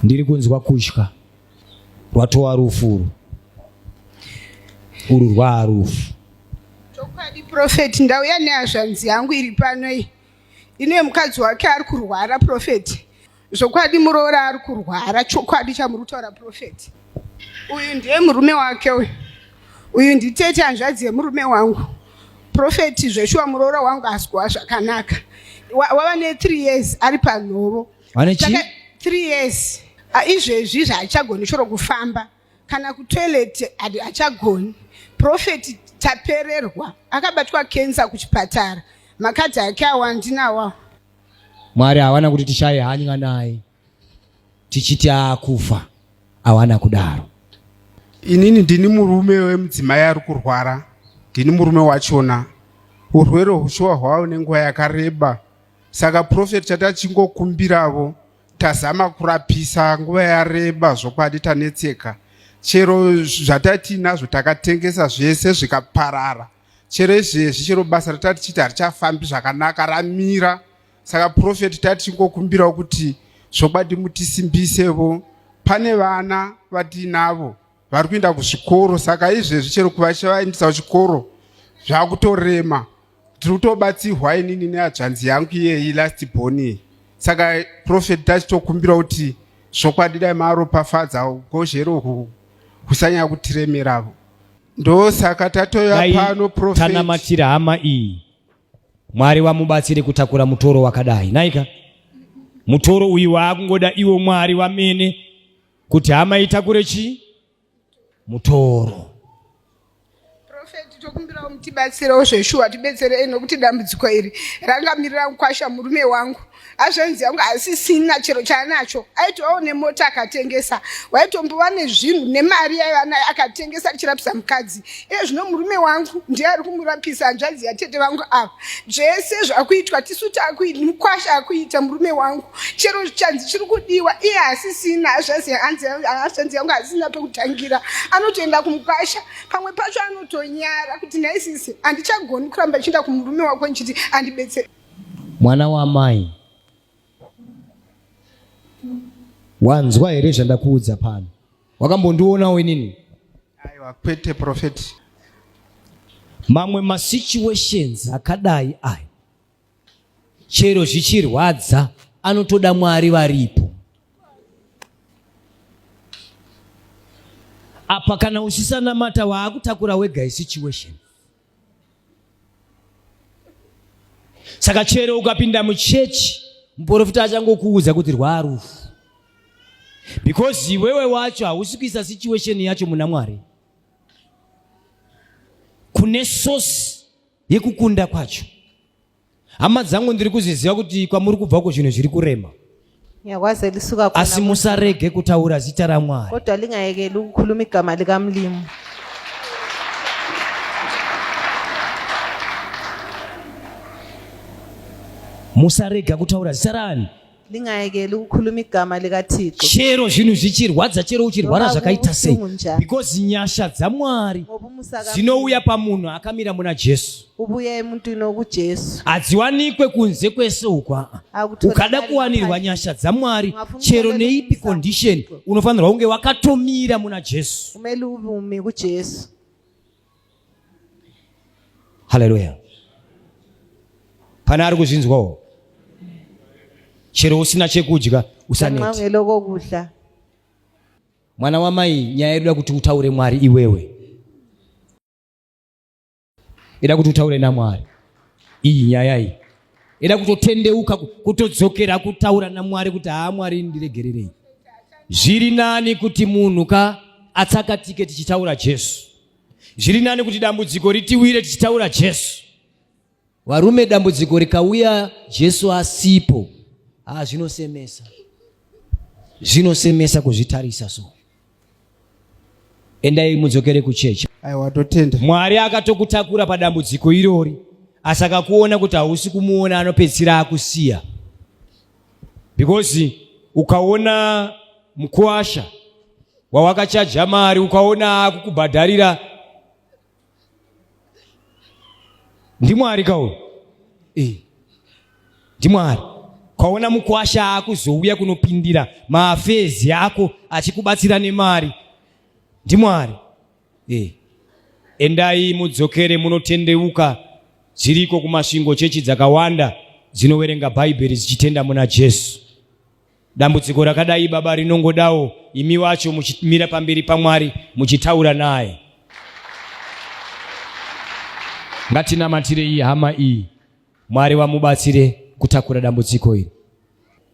ndiri kunzwa kutya rwatova rufu uru uru rwaa rufu chokwadi profeti ndauya nehazvanzi yangu iri pano iyi ine mukadzi wake ari kurwara profeti zvokwadi muroora ari kurwara chokwadi chamuri kutaura profeti uyu ndiye murume wake uyu uyu nditete hanzvadzi yemurume wangu profeti zveshuwa muroora wangu asi kuva zvakanaka wava ne three years ari panhovo vane chi three years izvezvi zvaachagoni choro kufamba kana kutoilet achagoni profeti tapererwa akabatwa kensa kuchipatara makadzi ake awa ndinawa Mwari hawana kuti tishaye hanya naye tichiti akufa, hawana kudaro. Inini ndini murume wemudzimai ari kurwara, ndini murume wachona. Urwere hushuwa hwavo nenguva yakareba, saka profeti chatachingokumbiravo tazama kurapisa nguva yareba zvokwadi tanetseka chero zvatatiinazvo takatengesa zvese zvikaparara chero izvezvi chero basa ratati chiti harichafambi zvakanaka ramira saka profeti tati chingokumbirawo kuti zvokwadi mutisimbisevo pane vana vatiinavo vari kuenda kuzvikoro saka izvezvi chero kuvachavaendisa kuchikoro zvakutorema tiri kutobatsirwa inini neadzvanzi yangu iyeyi last boni saka profeti tachitokumbira kuti zvokwadi dai maaropafadza ugozhero husanyaya kutiremeravo ndosaka tatoya pano prophet tanamatira hama iyi mwari vamubatsire kutakura mutoro wakadai naika mutoro uyu waakungoda iwo mwari vamene kuti hama itakure chii mutoro tokumbirawo mutibatsirewo zveshuwa tibetserei nokuti dambudziko iri rangamirira mukwasha murume wangu hazvanzi yangu haisisina chero chaanacho aitovawo nemota akatengesa waitombova nezvinhu nemari yaiva nayo akatengesa achirapisa mukadzi iye zvino murume wangu ndiye ari kumurapisa hanzvanzi yatete vangu ava zvese zvakuitwa tisu takuita mukwasha akuita murume wangu chero zvicanzi chiri kudiwa iye hasisina hazvanzi yangu hasisina pekutangira anotoenda kumukwasha pamwe pacho anotonyara kuti naisisi handichagoni kuramba ichienda kumurume wako ndichiti andibetsere Mwana wamai, wanzwa here zvandakuudza pano? Wakambondionawo inini? Aiwa, kwete prophet. Mamwe masituations akadai aya chero zvichirwadza anotoda Mwari varipo. Apa kana uchisanamata waakutakura wega isituation. saka chero ukapinda muchechi muporofita achangokuudza kuti rwarufu because iwewe wacho hausi kuisa situation yacho muna mwari kune source yekukunda kwacho hama dzangu ndiri kuzviziva kuti kwamuri kubva uko zvinhu zviri kurema ngiyakwazi elisuka khona asi musarege kutaura zita ramwari kodwa lingayekeli ukukhuluma igama likamlimu musarega kutaura zita rani ndingayekeli ukukhuluma igama likathixo chero zvinhu zvichirwadza chero uchirwara zvakaita sei because nyasha dzamwari dzinouya pamunhu akamira muna jesu ubuye emuntwini okujesu hadziwanikwe kunze kwese uku aa ukada kuwanirwa nyasha dzamwari chero neipi condition unofanirwa kunge wakatomira muna jesu umele uvumi kujesu haleluya pane ari kuzvinzwawo chero usina chekudya usanetsa mwana wamai nyaya yedu da kuti utaure mwari iwewe ida kuti utaure namwari iyi nyaya iyi eda kutotendeuka kutodzokera kutaura namwari kuti haa mwari ndiregererei zviri nani kuti munhu ka atsakatike tichitaura jesu zviri nani kuti dambudziko ritiwire tichitaura jesu varume dambudziko rikauya jesu asipo haa zvinosemesa zvinosemesa kuzvitarisa so endai mudzokere kuchechi aiwa totenda mwari akatokutakura padambudziko irori asi akakuona kuti hausi kumuona anopedzisira akusiya because ukaona mukwasha wawakachaja mari ukaona akukubhadharira ndimwari kauyu eh. ndimwari kwaona mukwasha akuzouya kunopindira maafezi ako achikubatsira nemari ndimwari eh. endai mudzokere munotendeuka dziriko kumasvingo chechi dzakawanda dzinoverenga bhaibheri dzichitenda muna jesu Dambudziko rakadai baba rinongodawo imi wacho muchimira pamberi paMwari muchitaura naye. Ngatinamatire iyi hama iyi, Mwari vamubatsire kutakura dambudziko iri.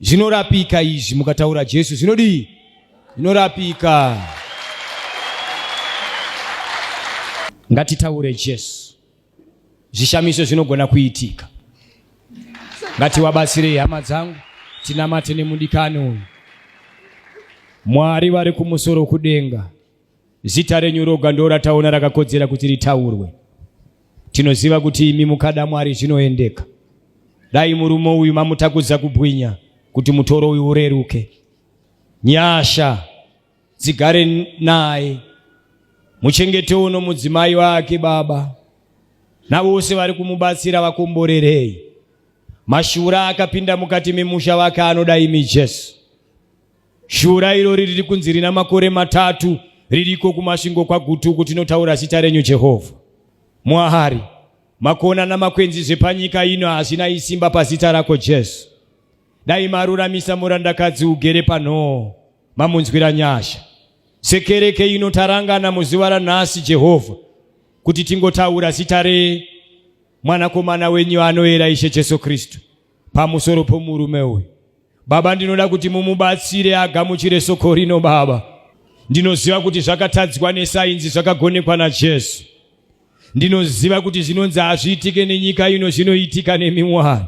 Zvinorapika izvi mukataura Jesu zvinodii? Zvinorapika. Ngatitaure Jesu. zvishamiso zvinogona kuitika ngatiwabatsirei hama dzangu tinamate nemudikani uyu mwari vari kumusoro kudenga zita renyu roga ndo rataona rakakodzera kuti ritaurwe tinoziva kuti imi mukada mwari zvinoendeka dai murume uyu mamutakudza kubwinya kuti mutoro uyu ureruke nyasha dzigare naye muchengetewo nomudzimai wake baba navose vari kumubatsira vakomborerei mashura akapinda mukati memusha vake anoda imi jesu shura irori riri kunzi rina makore matatu ririko kumasvingo kwagutuku tinotaura zita renyu jehovha mwari makona namakwenzi zvepanyika ino hazvina isimba pazita rako jesu dai maruramisa murandakadzi ugere panhoo mamunzwira nyasha sekereke ino tarangana muzuva ranhasi jehovha kuti tingotaura zita remwanakomana wenyu anoera ishe jesu kristu pamusoro pomurume uyu baba ndinoda kuti mumubatsire agamuchire soko rino baba ndinoziva kuti zvakatadzwa nesainzi zvakagonekwa najesu ndinoziva kuti zvinonzi hazviitike nenyika ino zvinoitika nemiwani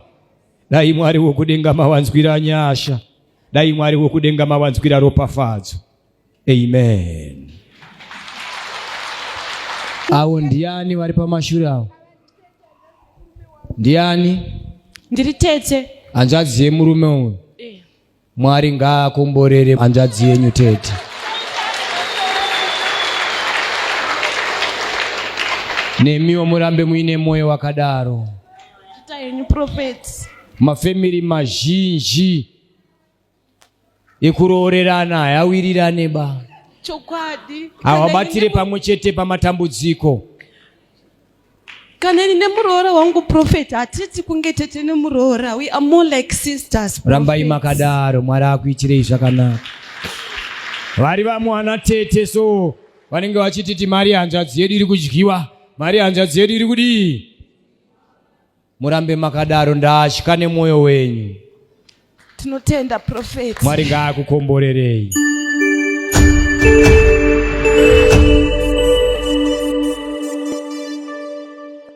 Dai Mwari wokudenga mawanzwira nyasha, dai Mwari wokudenga mawanzwira ropafadzo. Amen. Awo ndiani vari pamashure awo? Ndiani? Ndiri tete. Hanzvadzi yemurume uyu. Mwari ngaakomborere hanzvadzi yenyu tete. Nemiwo murambe muine moyo wakadaro. Mafemiri mazhinji ekuroorerana hayawirirane ba. Chokwadi. Hawabatire pamwe chete pamatambudziko. kana ini nemuroora wangu prophet hatiti kunge tete nemuroora we are more like sisters rambai makadaro mwari akuitirei zvakanaka vari vamwana tete so vanenge vachititi mari hanzvadzi yedu iri kudyiwa mari hanzvadzi yedu iri kudii Murambe makadaro ndatya nemwoyo wenyu. Tinotenda prophet. Mwari ngaakukomborerei.